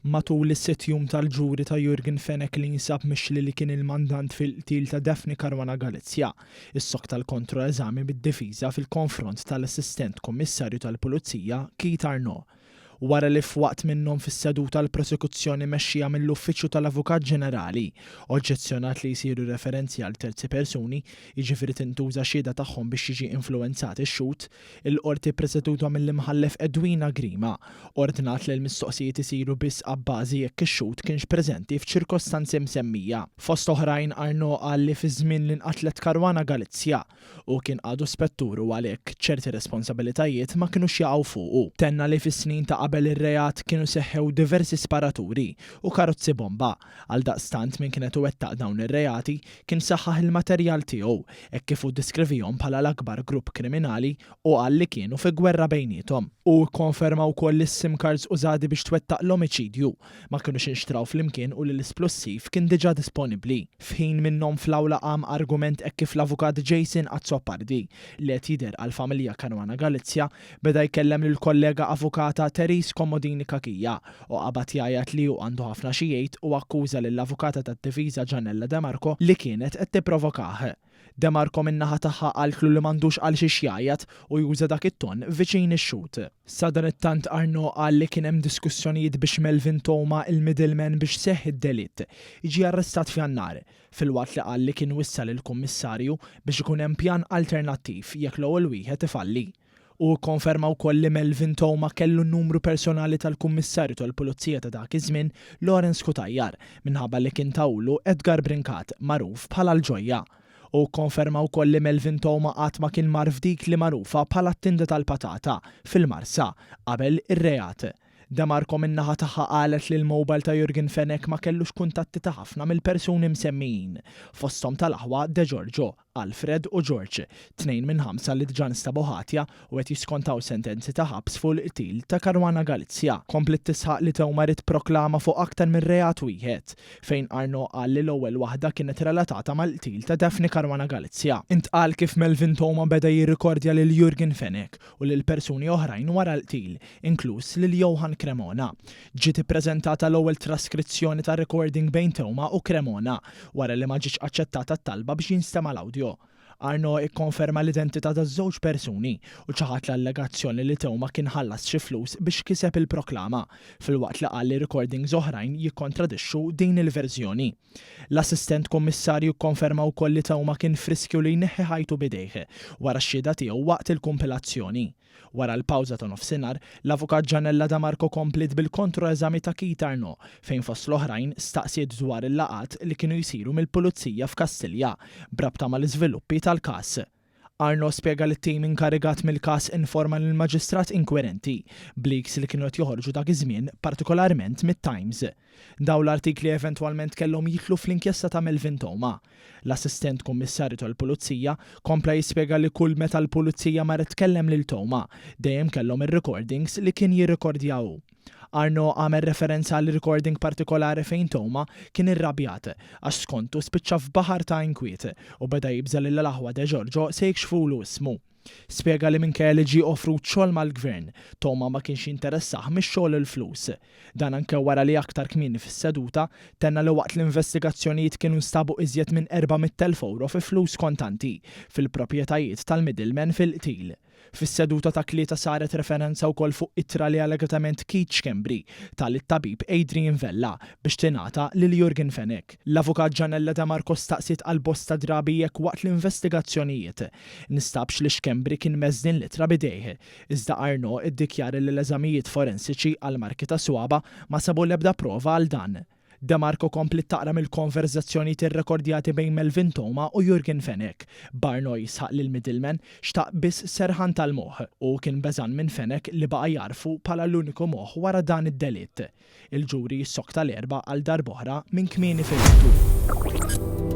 Matul is-sitt jum tal-ġuri ta' Yorgen Fenech li jinsab mixli li kien il-mandant fil-qtil ta' Daphne Caruana Galizia, issokta l-kontro-eżami mid-difiża fil-konfront tal-Assistent Kummissarju tal-Pulizija Keith Arnaud, wara li f'waqt minnhom fis-seduta l-Prosekuzzjoni mexxija mill-Uffiċċju tal-Avukat Ġenerali oġġezzjonat li jsiru referenzi għal terzi persuni, jiġifieri tintuża xhieda tagħhom biex jiġi influwenzat ix-xhud. Il-Qorti ppreseduta mill-Imħallef Edwina Grima ordnat li l-mistoqsijiet isiru biss abbażi jekk ix-xhud kienx preżenti f'ċirkostanzi msemmija. Fost oħrajn Arnaud qal li fiż-żmien li nqatlet Caruana Galizia hu kien għadu spettur u għalhekk ċerti responsabilitajiet ma kinux jaqgħu fuqu. Tenna li fis-snin ta' qabel ir-reat kienu seħħew diversi sparaturi u karozzi bomba Għaldaqstant min kien qed iwettaq dawn ir-reati kien saħħaħ il-materjal tiegħu hekk kif hu ddeskrivihom bħala l-akbar grupp kriminali u qal li kienu fi gwerra bejniethom. Hu kkonferma wkoll li s-sim cards użati biex twettaq l-omiċidju ma kinux inxtraw flimkien u li l-isplussiv kien diġà disponibbli. F'ħin minnhom fl-awla qam argument hekk kif l-avukat Jason Azzopardi, li qed jidher għall-familja Caruana Galizia, Beda jkellem lill-kollega avukata Therese Commodini Cachia u qabad jgħajjat li hu għandu ħafna xi jgħid u akkuża lill-avukata tad-difiża Gianella De Marco li kienet qed tipprovokah. De Marco min-naħa tagħha qaltlu li m'għandux għalxiex jgħajjat u juża dak it-ton viċin ix-xhud. Sadanittant Arnaud qal li kien hemm diskussjonijiet biex Melvin Theuma, il-middleman biex seħħ id-delitt, jiġi arrestat f'Jannar. filwaqt li qal li kien wissa lill-Kummissarju biex ikun hemm pjan alternattiv jekk l-ewwel wieħed ifalli. Hu kkonferma wkoll li Melvin Theuma kellu n-numru personali tal-Kummissarju tal-Pulizija ta' dak iż-żmien, Lawrence Cutajar, minħabba li kien tahulu Edgar Brincat, magħruf bħala l-Ġojja. Hu kkonferma wkoll li Melvin Theuma qatt ma kien mar f'dik li magħrufa bħala t-tinda tal-patata, fil-Marsa, qabel ir-reat. De Marco min-naħa tagħha qalet li l-mobile ta' Jurgen Fenech ma kellux kuntatti ta' ħafna mill-persuni msemmijin, fosthom tal-aħwa De Giorgio, Alfred u George, tnejn minn ħamsa li diġà nstabu ħatja u qed jiskontaw sentenzi ta' ħabs fuq il-qtil ta' Caruana Galizia. Kompliet tisħaq li Teumarit proklama fuq aktar minn reat wieħed, fejn Arnaud qal li l-ewwel waħda kienet relatata mal-qtil ta' Daphne Caruana Galizia. Intqal kif Melvin Theuma beda jirrikordja lil Jurgen Fenech u lil persuni oħrajn wara l-qtil, inkluż lil Johann Cremona. Ġiet ippreżentata l-ewwel traskrizzjoni ta' recording bejn Theuma u Cremona, wara li ma ġietx aċċettata t-talba biex jinstema' l-awdjo. Arnaud ikkonferma l-identità taż-żewġ persuni u ċaħad l-allegazzjoni li Theuma kien ħallas xi flus biex kiseb il-proklama, filwaqt li qal li recordings oħrajn jikkontradixxu din il-verżjoni. L-Assistent Kummissarju kkonferma wkoll li Theuma kien f'riskju li jneħħi ħajtu b'idejh wara x-xhieda tiegħu waqt il-kumpilazzjoni. Wara l-pawża ta' nofsinhar, l-Avukat Janella Damarco kompliet bil-kontro-eżami ta' Keith Arnaud fejn fost l-oħrajn staqsiet dwar il-laqgħat li kienu jsiru mill-Pulizija f'Kastilja b'rabta mal-iżviluppi tal-każ. Arnaud spjega li t-tim inkarigat mill-każ informa lill-Maġistrat inkwirenti b'leaks li kienu qed joħorġu dak iż-żmien, partikolarment mit-Times. Dawn l-artikli eventwalment kellhom jidħlu fl-inkjesta ta' Melvin Theuma. L-Assistent Kummissarju tal-Pulizija kompla jispjega li kull meta l-Pulizija marret tkellem lil Theuma, dejjem kellhom ir-recordings li kien jirrekordja hu. Arnaud għamel referenza għal recording partikolari fejn Toma kien irrabjat għax skontu spiċċa f'baħar ta' inkwiet u beda jibża' li l-aħwa De Giorgio se jikxfulu ismu. Spjega li minkejja li ġie offrut xogħol mal-Gvern, Toma ma kienx jinteressah mix-xogħol u l-flus. Dan anke wara li aktar kmieni fis-seduta, tenna li waqt l-investigazzjonijiet kienu nstabu iżjed minn 400,000 ewro fi flus kontanti fil-proprjetajiet tal-middleman fil-qtil. Fis-seduta ta' Tlieta saret referenza wkoll fuq ittra li allegatament Keith Schembri ta lit-tabib Adrian Vella biex tingħata lil Yorgen Fenech. L-Avukat Janella De Marco staqsiet għal bosta drabi jekk waqt l-investigazzjonijiet nstabx li Schembri kien mess din l-ittra b'idejh, iżda Arnaud iddikjara li l-eżamijiet forensiċi għall-marki tas-swaba' ma sabu l-ebda prova għal dan. Demarco kompliet taqra mill-konverżazzjonijiet irrekordjati bejn Melvin Theuma u Jurgen Fenech. Barno jisħaq li l-middleman xtaq biss serħan tal-moħħ u hu kien beżgħan minn Fenech li baqa' jagħrfu bħala l-uniku moħħ wara dan id-delitt. Il-ġuri ssokta l-Erbgħa għal darb'oħra minn kmieni filgħodu.